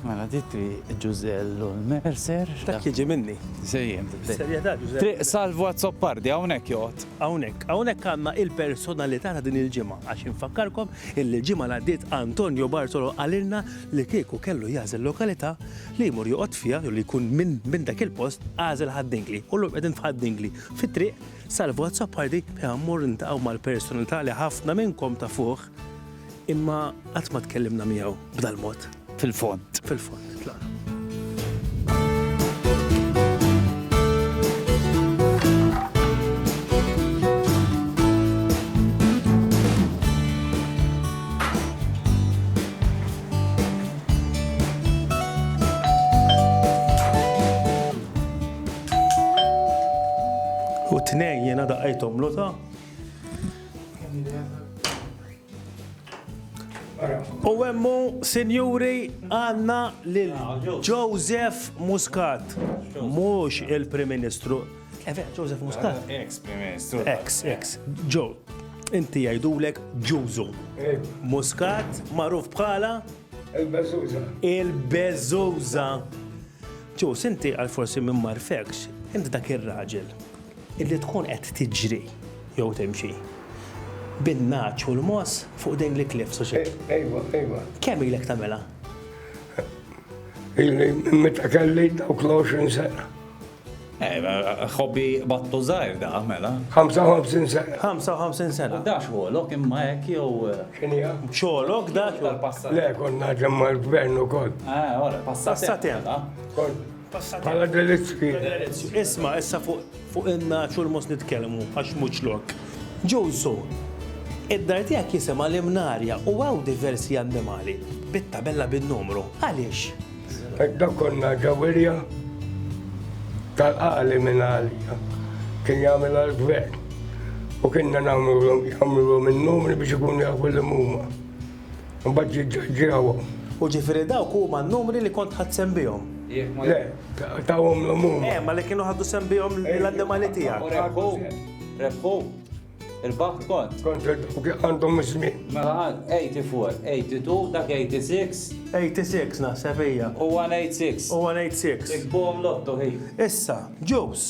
Mela di triq Ġużell u l-Mercer. Dak jiġi minni. Sejjem. Bis-serjetà Ġużell. Triq Salvu Azzopardi hawnhekk joqgħod. Hawnhekk. Hawnhekk għandna il-personalità ta' din il-ġimgħa għax infakkarkom illi l-ġimgħa li għaddiet Antonio Bartolo qalilna li kieku kellu jagħżel lokalità li jmur joqgħod fiha jew li jkun minn dak il-post għażel Ħad-Dingli. U llum qegħdin f'Ħad-Dingli fit-triq Salvu Azzopardi fejn ħammorru niltaqgħu mal-personalità li ħafna minnkom tafuh Imma qatt ma tkellimna miegħu b'dal-mod. Fil-fond. Fil-fond, tlaq. U t-tnejn jiena daqqajthom l-għota. U għemmu, sinjuri, għanna lil Joseph Muscat. Mux il-Prim Ministru. Efe, eh, Joseph Muscat. Eh, ex Prim Ministru. Ex, ex. Joe, inti jajdulek Ġużu. Eh. Muscat, maruf bħala. Il-Bezuza. Il-Bezuza. Ġo, sinti għal-forsi minn marfekx, inti dak ir-raġel. Illi tkun qed tiġri jew timxi. Bin-nagħaġ u l-moss fuq dejn l-iklief suċċess. Ejwa, ejwa. Kemm ilek tagħmilha? Illi meta kelli dawk l-20 sena. Ħobbi battu żgħir da, mela. 55 sena. 55 sena. Da xogħolok imma hekk jew. X'inhija? Xogħolok dak? Le, konna ġemma l-gvern ukoll. Ah, ora, passat. Passat hemm. Bħala delizzju. Delizzju. Isma' issa fuq in-naċ u l-mos nitkellmu għax mhux lok. Ġusu, id-dar tiegħek jisimha l-Imnarja u hawn diversi annimali bit-tabella bin-numru. Għaliex? Edda konna ġawirja tal-qali minn għalija. Kien jagħmel għal-gvern. U kienna nagħmlu l-om jagħmlu l-om il-numri biex ikun jafu l-muma. Mbagħad jiġġaġġjawhom. U ġifieri dawk huma n-numri li kont ħadt sehem bihom? Le, tawhomlhom huma. Eh, ma li kienu ħadu sehem bihom l-annimali tiegħek. U rebħu, rebħu. Il-baħt kont. Kont għandhom iż-żmien. Mela għal 84, 82, dak 86. 86 naħseb hija. U 186. U 186. Ikbom lotto hi. Issa, ġus.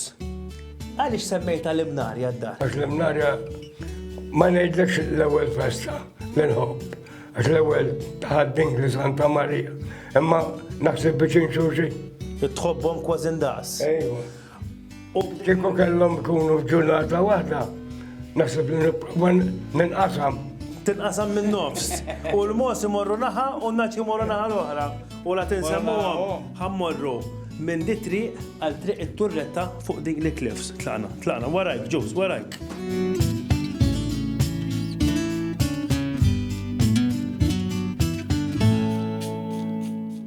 Għaliex semmejta l-imnarja d-dar? Għax l-imnarja Ma ngħidlekx l-ewwel festa li nħobb, għax l-ewwel tħaddin li Santa Marija, imma naħseb biex inxuxi. Tħobbhom kważi ndaqs. Ejwa. U kieku kellhom kunu f'ġurnata waħda, naħseb li nipprova ninqasam. Tinqasam minn nofs. U l-mos imorru naħa u n-naċ imorru naħa l-oħra. U la tinsemmuhom, ħa mmorru minn di triq għal triq it-turretta fuq dik li cliffs. Tlaqna, tlaqna, warajk, ġus, warajk.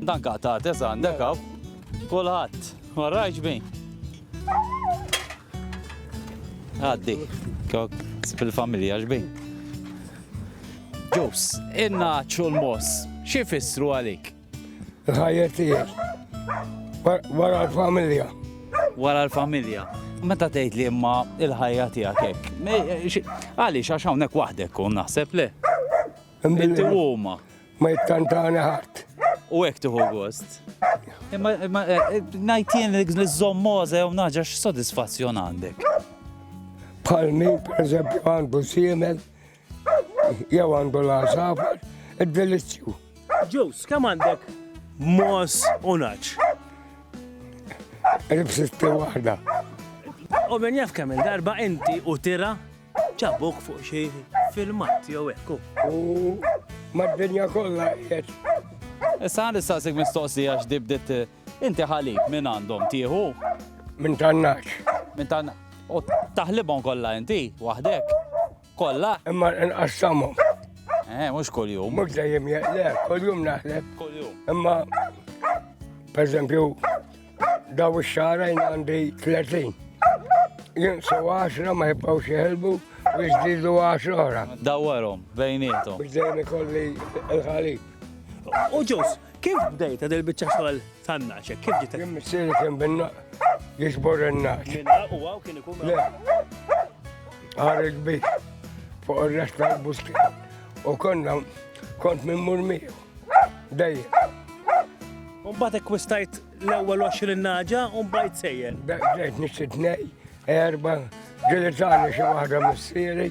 Dan kaqtat, eżan, dekaw, kulħadd, warajk ġbin. Għaddi, kok, fil-familja ġbi. Ġus, inna ċu l-mos, xie fissru għalik? Ħajja tijek, wara l-familja. Wara l-familja. Meta tgħid li imma il-ħajja tiegħek hekk. Għaliex għax hawnhekk waħdek kun naħseb le. Inti huma. Ma jittantani ħadd. U hekk tieħu gost. Imma eh, eh, ngħid jien li żommoża jew naġa x'sodisfazzjon għandek. Bħal min pereżempju għandu siemel jew għandu l-għażafar, id-delizzju. Ġus, kemm għandek mos u naċ? Ribsisti waħda. U minn jaf kemm darba inti u tira Ġabuk fuq xi filmat jew hekk. U mad-dinja kollha qed. Issa nistaqsik mistoqsija x'dibdet inti ħalib minn għandhom tieħu? Minn tannaċ. Minn tannaċ. U taħlibhom kollha inti waħdek. Kollha? Imma nqassamhom. Eh, mhux kuljum. Mhux dejjem le, kuljum naħleb. Kuljum. Imma per eżempju Daw ix-xara jien għandi 30. Jinqsu 10 ma jibqgħux jeħelbu biex żdiedu 10 oħra. Dawwarhom bejnietom. Biex dejjem ikolli l-ħalib. U ġus, kif bdejt għad il-bicċa xogħol tan-naċe? Kif ġiet? Jien missieri kien binna jiġbor in-naċ. U għaw kien ikun. Le. Għar il-bit fuq ir-rest tal-busti. U konna kont minn murmiju. Dej. Mbagħad ekkwistajt l-ewwel 20 naġa u mbagħad sejjer. Dejt nixtri tnej, erba, ġilitani xi waħda missieri.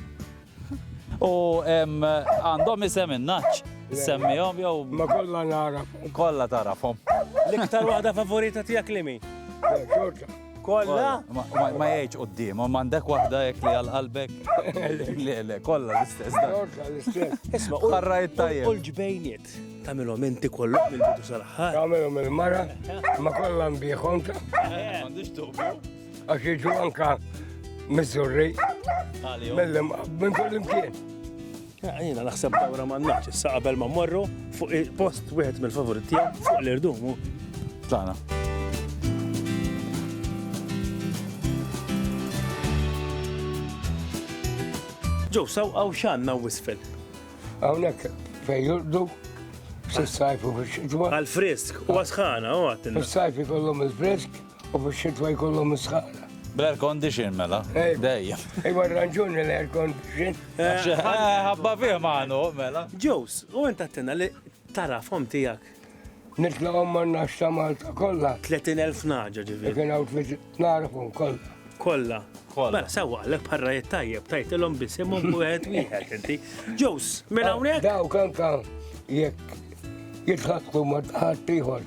U għandhom isem in-naċ. Semmihom jew. Ma kollha narafhom. Kollha tarafhom. L-iktar waħda favorita tiegħek li mi? Xorta. Kolla? Ma jgħidx qoddim, ma għandek waħda jek li għal qalbek. Le, le, kolla l-istess. Kolla l-istess. Isma, barra jittajja. U l-ġbejniet, tamilom inti kollu mill-bidu sal-ħar. Tamilom il-mara, ma kolla mbiħom. Għandix tuqbu. Għax iġu anka mizzurri. Mill-lim, minn kull-imkien. Jiena naħseb dawra m'għandnax, issa qabel ma mmorru fuq il-post wieħed mill-favorit tiegħek fuq l-irdumu. Tana. Ġew saw għaw xanna wisfel. Hawnhekk fejn jurdu s-sajfu fix-xitwa. Għal-frisk, u għasħana, u għattin. Is-sajfi kollhom il-frisk. U fix-xitwa jkollhom is-sħana. Bl-air condition mela. Eh. Dejjem. Ejwa ranġuni l-air condition. Eh, eh, ħabba fih maħnu mela. Ġews, u int għattina li tarafhom tiegħek. Nitlaqhom ma nafx ta' Malta kollha. 30,000 naġa ġifieri. Kien hawn narafhom kollha. Kollha. Kollha. Mela sewwa għalek parra tajjeb tajtilhom bisimhom wieħed wieħed inti. Ġews, minn hawnhekk. Daw kan kan jekk jitħaqqu ma ħadd ieħor.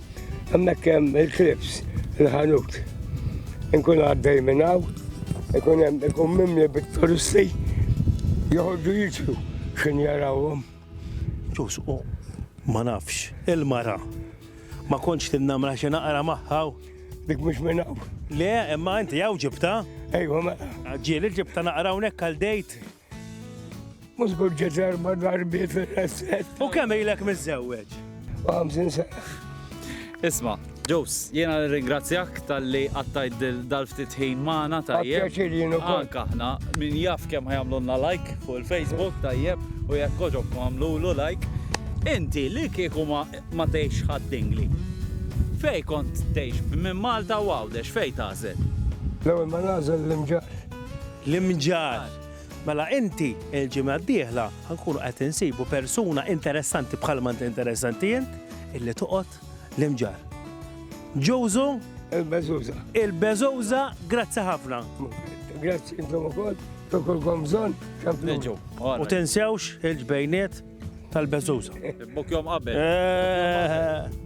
Hemmhekk hemm il-klips, il-ħanut. Inkun għaddej minn hawn, ikun hemm ikun mimli bit-turisti joħorġu jiġru x'in jarawhom. Ġus, u ma nafx, il-mara. Ma kontx tinnamra xi naqra magħha. Dik mhux minn hawn. Le, imma inti hawn ġibta? Ejwa, ma. Ġieli ġibta naqra hawnhekk għal dejt. Mhux kull ġezer ma darbi fil-resset. U kemm ilek miżżewweġ? Għamżin se. Isma, Ġus, jena ringrazzjak tal-li għattajt dal-ftit ħin maħna tajjeb. Għaxirinu Anka ħna, min jaf kem ħajamlunna like fuq il-Facebook tajjeb u jek koġob għamlulu like. Inti li kieku ma teħx ħaddingli. Fej kont teħx minn Malta u għawdex, fej tażel? L-ewel ma nażel l-imġar. L-imġarr. Mela inti l-ġimgħa d-dieħla ħa nkunu qed insibu persuna interessanti bħalma int interessanti int illi toqgħod l-imġarr. Ġużu. Il-beżuża. Il-beżuża, grazzi ħafna. Grazzi intom ukoll, tokolkom bżonn xampleġu. U tinsewx il-ġbejniet tal-beżuża. Bok jom qabel. Eh.